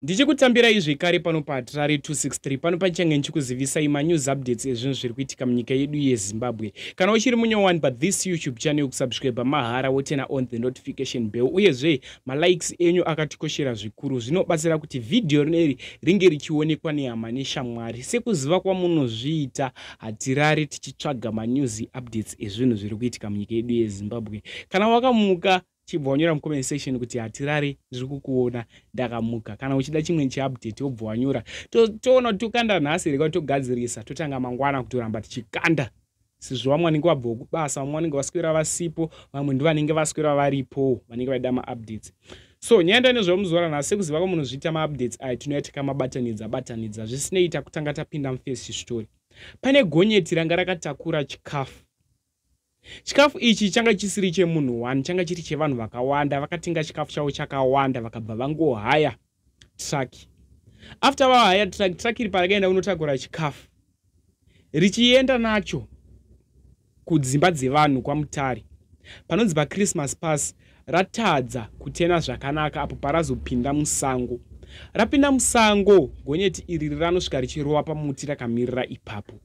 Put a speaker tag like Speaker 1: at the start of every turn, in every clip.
Speaker 1: Ndichikutambirai zvekare pano paHatirare 263 pano panichange ndichikuzivisai manews updates ezvinhu zviri kuitika munyika yedu yeZimbabwe. Kana uchiri munyowani pa this YouTube channel kusubscribe mahara wotena on the notification bell uyezve malikes enyu akatikoshera zvikuru zvinobatsira kuti vhidhiyo rineri ringe richionekwa nehama neshamwari sekuziva kwamunozviita hatirare tichitsvaga manews updates ezvinhu zviri kuitika munyika yedu yeZimbabwe. Kana wakamuka chibva wanyora mucomment section kuti hatirare ndiri kukuona ndakamuka kana uchida chimwe chiupdate wobva wanyora toona kuti tokanda nhasi here togadzirisa totanga mangwana kutoramba tichikanda sezvo vamwe vanenge vabva kubasa vamwe vanenge vaswera vasipo vamwe ndivanenge vaswera varipo vanenge vaida maupdates so nyaya ndaine zvamuzuva ranhasi sekuziva kwamunozviita maupdates aya tinouya tikamabatanidza batanidza zvisinei takutanga tapinda mufirst story pane gonyeti ranga rakatakura chikafu Chikafu ichi changa chisiri chemunhu one, changa chiri chevanhu vakawanda. Vakatenga chikafu chavo chakawanda vakabva vangohaya truck. After vahaya truck, truck iri parakaenda kunotakura chikafu richienda nacho kudzimba dzevanhu kwaMutare panonzi paChristmas pass ratadza kutena zvakanaka apo parazopinda musango. Rapinda musango, gonyeti iri ranosvika richirova pamuti rakamirira ipapo.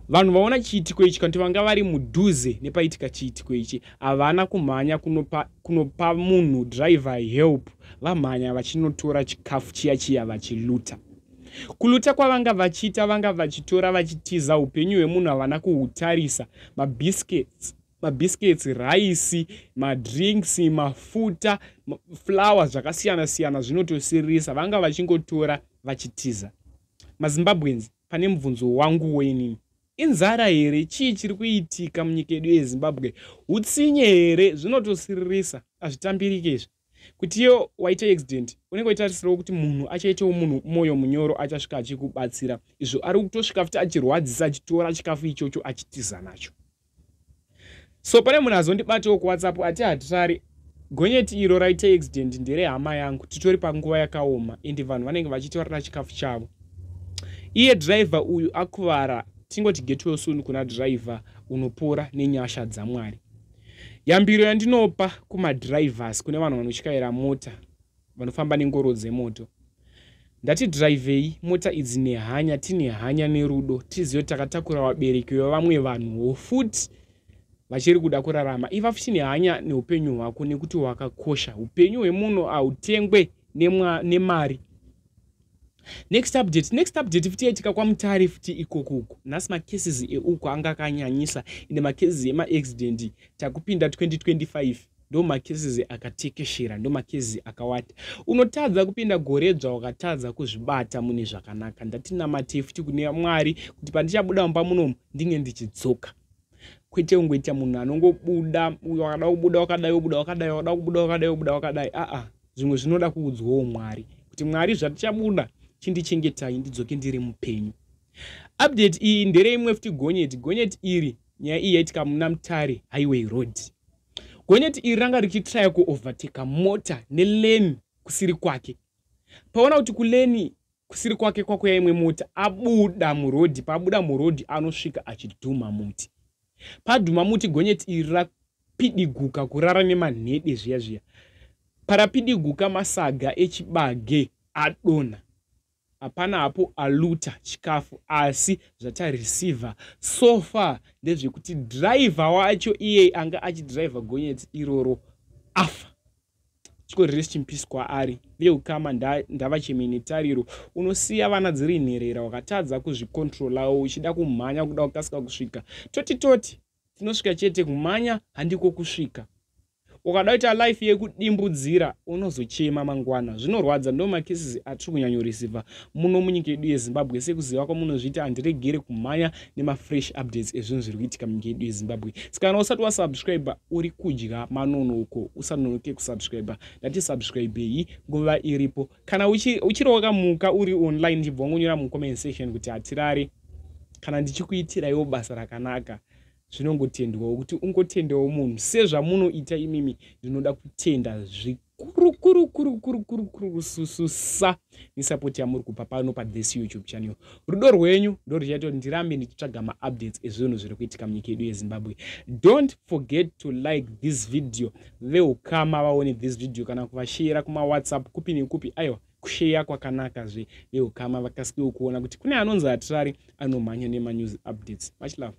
Speaker 1: Vanhu vaona chiitiko ichi kanti vanga vari mudhuze nepaitika chiitiko ichi havana kumhanya kunopa, kunopa munhu driver help vamhanya vachinotora chikafu chiya chiya vachiluta kuluta kwavanga vachiita vanga vachitora vachitiza upenyu hwemunhu havana kuhutarisa mabiscuits mabiscuits raisi madrinks mafuta flower zvakasiyana siyana zvinotosiririsa vanga vachingotora vachitiza mazimbabweans pane mubvunzo wanguwo inini inzara here chii chiri kuitika munyika yedu yezimbabwe utsinye here zvinotosiririsa hazvitambirike izvi kutiyo waita accident unenge waitarisirawo kuti munhu achaitawo munhu mwoyo munyoro achasvika achikubatsira izvo ari kutosvika futi achirwadzisa achitora chikafu ichocho achitiza nacho so pane munhu azondibatiwo kuwhatsapp ati hatirari gonyeti iro raite accident ndere hama yangu titori panguva yakaoma ende vanhu vanenge vachiti varira chikafu chavo iye driver uyu akuvara tingoti getwell soon kuna driver unopora nenyasha dzamwari yambiro yandinopa kumadrivers kune vanhu vanotyaira mota vanofamba nengoro dzemoto ndati dhiraivhei mota idzi nehanya tine hanya nerudo tizive takatakura vabereki vevamwe vanhuwo futi vachiri kuda kurarama iva futi nehanya neupenyu hwako nekuti hwakakosha upenyu hwemunhu hautengwe nemari next update next update futi yaitika kwamutare futi ikoko uko nhasi macases euko anga akanyanyisa ende macases emaaccident takupinda 2025 ndo macases akatekeshera ndo macases akawata unotadza kupinda gore dzva wakatadza kuzvibata mune zvakanaka ndatinamatei futi kune mwari kuti pandichabuda mumba munomu ndinge ndichidzoka kwete ungoita munhu anongobuda wakada kubuda wakadai wobuda wakadai wakada kubuda wakadai wobuda wakadai aa zvimwe zvinoda kuudzwawo mwari kuti mwari zvatichabuda chindichengetai ndidzoke ndiri mupenyu update iyi ndere imwe futi gonyeti gonyeti iri nyaya iyi yaitika muna mutare highway road gonyeti iri ranga richitraya kuoverteka mota neleni kusiri kwake paona kuti kuleni kusiri kwake kwakuya imwe mota abuda murodhi paabuda murodhi anosvika achidhuma muti padhuma muti gonyeti iri rapidiguka kurara nemanhede zviya zviya parapidiguka masaga echibage adona hapana hapo aluta chikafu asi zvatareceiver so far ndezvekuti driver wacho iyeye anga achidriver gonyeti iroro afa chiko rest in peace kwaari ndiye ukama ndava cheme netariro unosiya vana dziri nherera wakatadza kuzvikontrolawo uchida kumhanya kuda kukasika kusvika toti toti tinosvika chete kumhanya handiko kusvika ukada kuita life yekudimbudzira unozochema mangwana zvinorwadza ndo makeses atiri kunyanyorisiva muno munyika yedu yezimbabwe sekuziva kwamunozviita handiregere kumhanya nemafresh updates ezvinhu zviri kuitika munyika yedu yezimbabwe saka kana usati wasubscribe uri kudya manono uko usanonoke kusubscribe ndati subscribe iyi nguva iripo kana uchiri wakamuka uri online ndichibva wangonyora mucomment section kuti hatirare kana ndichikuitiraiwo basa rakanaka zvinongotendwawo kuti ungotendawo munhu sezvamunoita imimi ndinoda kutenda zvi kurukurukurukurukurukurukurusususa nesapoti yamuri kupa pano pathis youtube channel rudo rwenyu ndo ruchaita kuti ndirambe ndichitsvaga maupdates ezvinhu zviri kuitika munyika yedu yezimbabwe don't forget to like this video veukama vaone this video kana kuvasheyera kumawhatsapp kupi nekupi aiwa kusheya kwakanaka zve veukama vakasikewo kuona kuti kune anonzi hatirari anomhanya nemanews updates much love